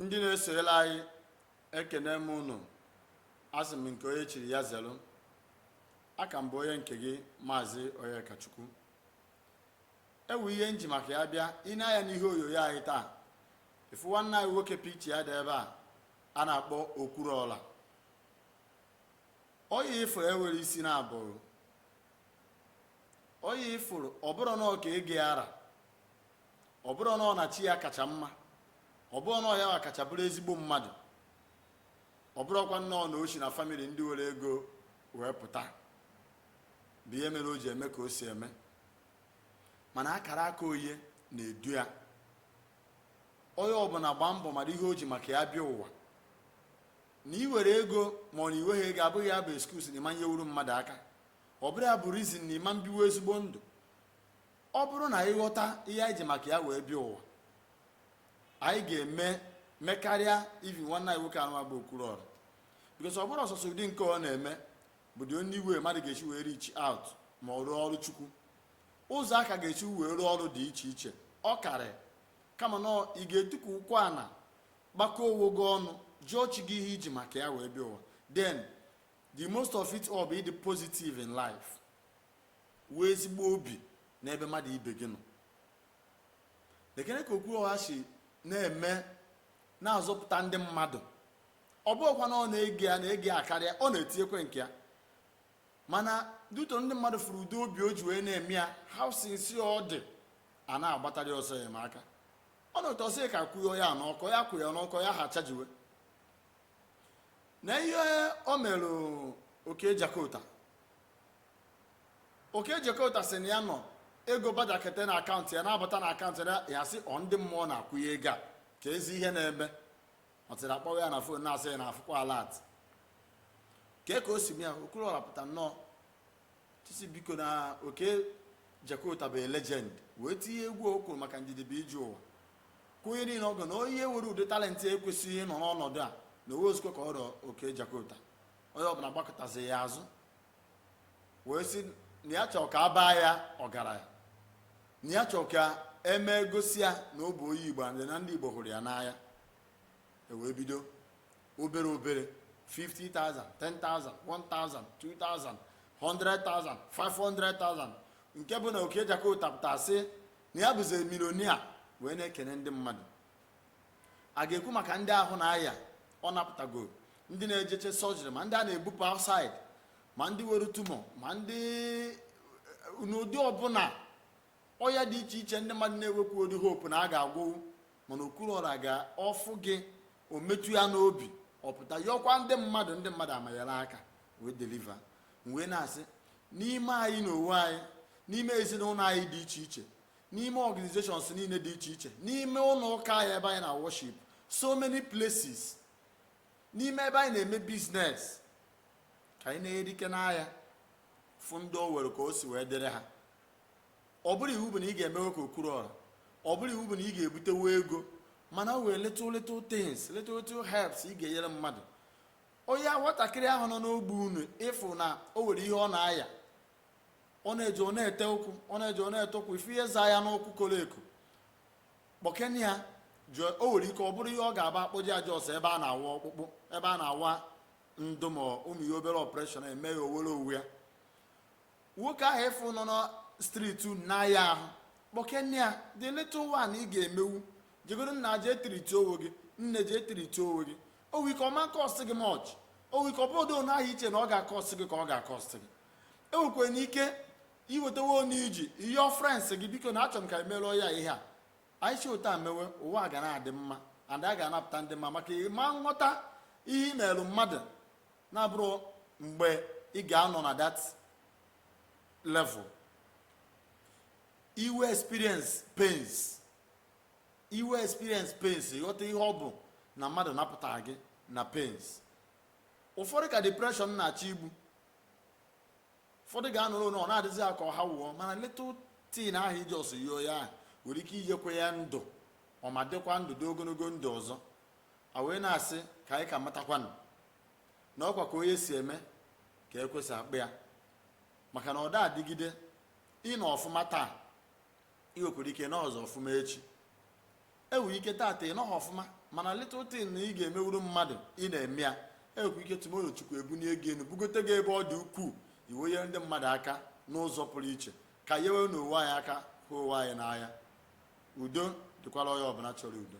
ndị na-esoyela anyị ekene m unu asị m nke onye chiri ya zelu a ka m bụ onye nke gị maazị onyekachukwu ewu ihe m ji maka ya bịa ine anya n'ihe onyonyo anyị taa ị fụ nwanne anyị nwoke picture ya dị ebe a a na-akpọ okwuluọra oyi ị fụrụ enwere isi na abụrụ oyi ị fụrụ ọ bụrọ na ọ ka ego ya ara ọ bụrọ na ọ na chi ya kacha mma ọ bụrọ na ọ ya kacha bụrụ ezigbo mmadụ ọ bụrọkwa nnọọ na o si na family ndị nwere ego wee pụta bụ ihe mere o ji eme ka o si eme mana akara aka onye na-edu ya onye ọbụla gbaa mbọ mara ihe o ji maka ya bịa ụwa na i nwere ego ma ọ na i nweghị ego abụghị ya bụ excuse na ị ma nyewuru mmadụ aka ọ bụrọ ya bụ reason na ị ma biwe ezigbo ndụ Ọ bụrụ na anyị ghọta ihe anyị ji maka ya wee bịa ụwa, anyị ga-eme mekarịa even nwanne anyị nwoke anụwa bụ Okwuluọra because ọ bụrọ sọsọ ụdị nke ọ na-eme bụ the only way mmadụ ga-esi wee reach out ma ọ rụọ ọrụ chukwu ụzọ aka ga-esi wee rụọ ọrụ dị iche iche ọ karị kama na ị ga-etukwu ụkwụ ana gbakọ onwe gị ọnụ jụọ chi gị ihe i ji maka ya wee bịa ụwa then the most of it all bụ ịdị positive in life Nwee ezigbo obi n'ebe mmadụ ibe gị nọ. Nekene ka Okwuluọra si na-eme na-azọpụta ndị mmadụ. Ọ bụghịkwa na ọ na ego ya karịa, ọ na-etinyekwa nke ya. Mana due to ndị mmadụ fụrụ ụdị obi o ji wee na-eme ya, how sincere ọ dị, a na-agbatara ya ọsọ enyemaka. Ọ na otu ọ sị ka kwụọ ya n'ọkụ, ya kwụ ya n'ọkụ, ya ha chajiwe. Na ihe o mere Okey Jakota okey jakota sị na ya nọ ego bajakete na akaụntụ ya na-abata na akaụntụ ya ya sị ọ ndị mmụọ na-akwụ ya ego a keezi ihe na-eme until a kpọwa ya na phone na-asị ya na afụkwa alert kee ka o si mee ya okwuluọra pụta nnọọ tie sị biko na okey jakota bụ legend wee tinye egwu ọ kụrụ maka ndidi bụ ije ụwa kwụnye niile ọgụ na onye nwere ụdị talent a ekwesịghị ịnọ n'ọnọdụ a na o nwerọzikwa ka ọ ra okey jakota onye ọbụla gbakụtazi ya azụ wee sị na ya chọrọ ka a baa ya ọgaranya na ya chọrọ ka e mee gosi ya na ọ bụ onye igbo and na ndị igbo hụrụ ya n'anya e wee bido obere obere 50,000 10,000 1,000 2,000 100,000 500,000 nke bụ na okey jakota pụta sị na ya bụzi millionaire wee na-ekene ndị mmadụ a ga-ekwu maka ndị ahụ na-aya ọ napụtago ndị na-ejeche surgery ma ndị a na-ebupụ outside ma ndị were tumor ma ndị eh, n'ụdị ọbụla ọya dị iche iche ndị mmadụ na-ewepụ ụdị hope na a ga-agwọwu mana Okwuluora ga-afụ gị o metụ ya n'obi ọ pụta yọkwa ndị mmadụ ndị mmadụ amanyere aka wee deliver wee na-asị n'ime anyị na onwe anyị n'ime ezinụlọ anyị dị iche iche n'ime organizations niile dị iche iche n'ime ụlọ ụka anyị ebe anyị na-worship so many places n'ime ebe anyị na-eme business ka anyị na-elekene anya fụ ndị o were ka o si wee dịrị ha ọ bụrọ iwu bụ na ị ga-emewe ka Okwuluora ọ bụrọ iwu bụ na ị ga-ebutewe ego mana o were little little things little little helps ị ga-enyere mmadụ onye nwatakịrị ahụ nọ n'ogbe unu ị fụ na o nwere ihe ọ na-aya ọ na-eje ọ na-ete ụkwụ ọ na-eje ọ na-ete ụkwụ ị fụ ihe zaa ya n'ụkwụ koro eko kpọkene ya jụọ o nwere ike ọ bụrụ ihe ọ ga-abụ a kpọje ya ọsọ ebe a na-awa ọkpụkpụ ebe a na-awa ndị mmadụ ihe obere operation e mee ya o were owe ya nwoke ahụ ị fụ nọ na street n'ahịa ahụ kpọkene ya the little one ị ga-emewu jegoro nna jee treat owe gị nne jee treat owe gị o nwere ike ọ ma cost gị much o nwere ike ọ bụrọ otu ahụ i che na ọ ga-acost gị ka ọ ga-acost gị e nwekwara ike iwetawa onye ji ihe friends gị biko na achọrọ m ka e meere ya ihe a anyị si otu a mewe ụwa ga na-adị mma and a ga-anapụta ndị mmadụ maka ị ma nghọta ihe i meelu mmadụ na-abụrọ mgbe ị ga-anọ na that level i wee experience pains i wee experience pains ghọta ihe ọ bụ na mmadụ napụtara gị na pains ụfọdụ ka depression na-achọ igbu ụfọdụ ga-anọrọ na ọ na-adịzi ha ka ọ ha wụọ mana little thing ahụ i ji ọsọ nye ya ahụ nwere ike iyekwe ya ndụ ọ ma dịkwa ndụ dị ogologo ndụ ọzọ a wee na-asị ka anyị ka matakwanụ na ọ kwa ka onye si eme ka e kwesị akpa ya maka na ọ da adịgide ị nọ ọfụma taa i wekwere ike anọzị ọfụma echi e nwere ike tata ị nọghị ọfụma mana little thing na ị ga-emewuru mmadụ ị na-eme ya e nwekwa ike tomorrow Chukwu ebunie gị elu bugote gị ebe ọ dị ukwuu i wee nyere ndị mmadụ aka n'ụzọ pụrụ iche ka nyewe na onwe anyị aka hụ onwe anyị n'anya udo dịkwara onye ọbụla chọrọ udo